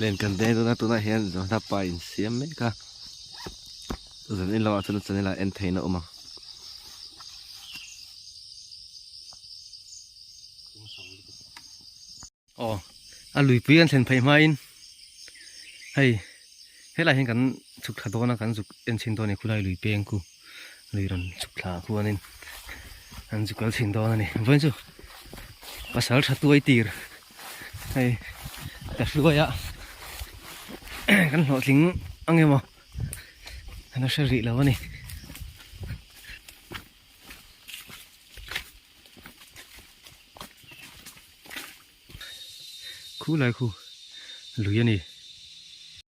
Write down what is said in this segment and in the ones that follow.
Len kan deng dun a tunah hian zawhna pa in siam mek a zan in lamah chuan chanela en theihna a awm ang. Aw a luipui an thlen phei hmain hei helai hian kan chhuk tha dawn a kan zuk en chhin dawn a ni khulai lui peng ku. lui rawn chhuk thla ah khuan in an zu kal chhin dawn a ni vawiin chu pasal tha tuai tir hei ta hluai a kan hlawh tling ang emaw a la hre rih lo a ni khu lai khu lui a ni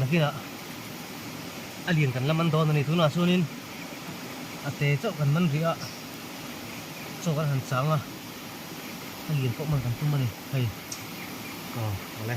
nakinah a lian kan la man dawn a ni tunah chuanin a te chauh kan man rih a chaw kan han chang a a lian pawh man kan tum a ni hei aw a le.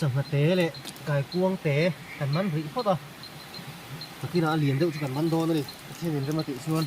sangha te leh kaikuang te kan man rih phawt a a kinah a lian deuh chu kan man dawn a ni a thenin rema tih chuan.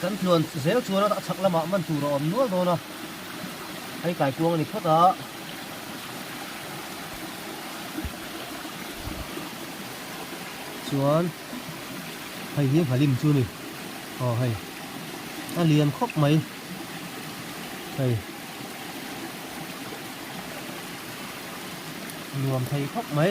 Kan tluan zel chuan a chhak lamah man tur a awm nual dawn a, hei kai kuang a ni phawt a. Chuan hei hi Hmalim chu a ni, aw hei a lian khawp mai hei, nuam thei khawp mai.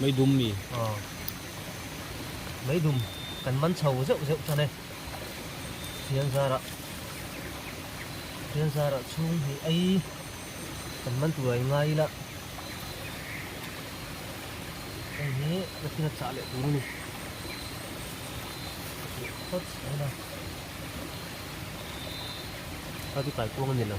Mai dum mi. Aw. Mai dum kan man chho zeuh zeuh tan e. Thianzara. Thianzara chhung hi ai kan man tura i ngai ila. Hei hi ka thil a chah leh tur a ni. Hot a ila. Khati kai kuang a ni lo.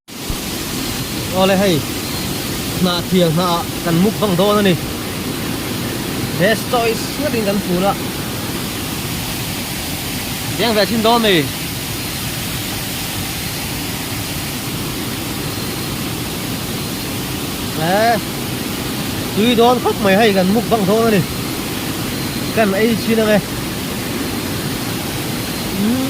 Awle hei hnah thiang hna ah kan muk vang dawn a ni. Best choice nghat in kan phun a. Deng ve chin dawn mai. Eh, tui dawn khawp mai hei kan muk vang dawn a ni. Kan ei chin ang e. Hmm.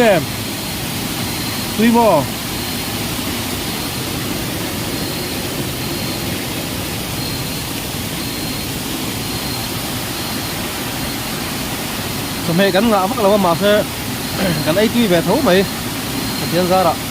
em tui mo chawhmeh kan ngah vak lo a mahse kan ei tui ve tho mai Pathian zarah.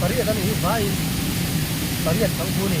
pariat a nih hi vai pariat thang thu a ni.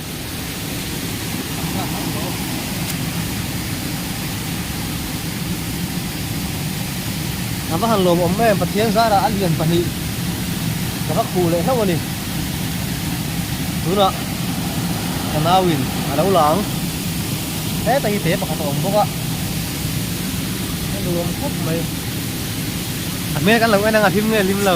Ka va han lawmawm mai em, Pathian zara a lian pahnih ka va khuh leh hlauh a ni. Tunah ka nauin a lo lang, heta hi te pakhat a awm bawk a, ka nuam khawp mai. A hmel kan lo en ang a hlim nge hlim lo.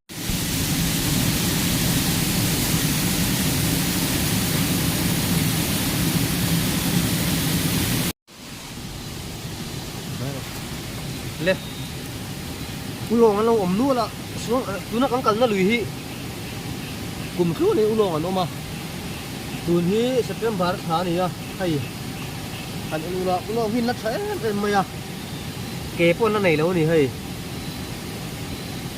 le ulawng an lo awm nual a chuan tuna kan kalna lui hi kum thlu ni ulawng an awm a tun hi September tha a ni a hei kan en ula ulawng hi na tha em em mai a ke pawh na nei lo a ni hei.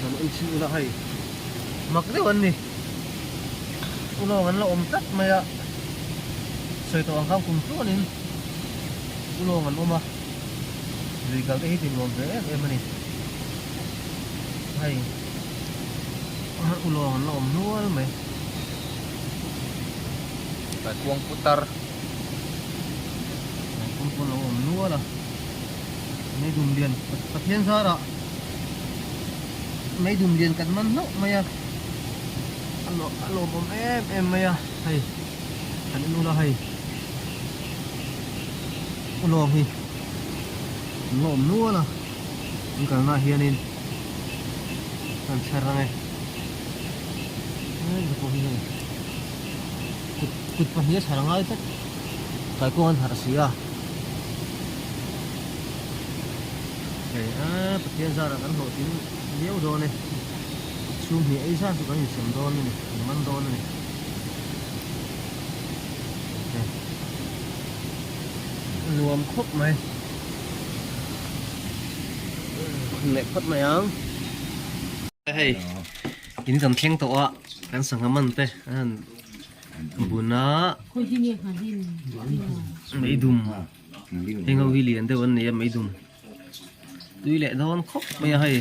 Kan awih chhin ula hei mak deuh an ni. Ulawng an la awm tlat mai a, sawi tawh ang kha kum tluanin ulawng an awm a, lui kal te hi tinuam ve em em a ni. Hei ulawng an la awm nual mai. Hei puang putar, hei pum pawh an lo awm nual a. Meidum lian Pathian zara meidum lian kan man hlauh mai a a lawmawm em em mai a hei kan en ula hei u lawm hi an lawm nual a an kalna hianin kan chher ang e hei ka pawh hi hei kut kut pahnih a chhar ngai tak. Kaikung an harh si a. Hei a, Pathian zar a kan hlawh thin viau dawn e. Chhum hnih ei zat chu kan insem dawn a ni, kan man dawn a ni. Hei. A nuam khawp mai. Khun leh phawt mai ang. Hei, in kan thleng tawh a, kan sangha man te a han. tunah meidum heng ho hi lian deuh an nei a meidum tui leh dawn khawp mai a hei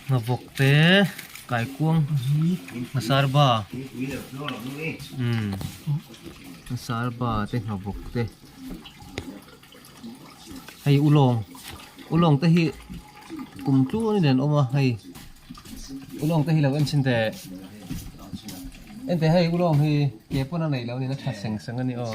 nghavawk te kaikuang nghasarba nghasarba te nghavawk te. hei u lawng u lawng te hi kum tluain in an awm a hei u lawng te hi lo en chhin teh engtiah hei u lawng hi ke pawn a nei lo niin a tha seng seng a ni aw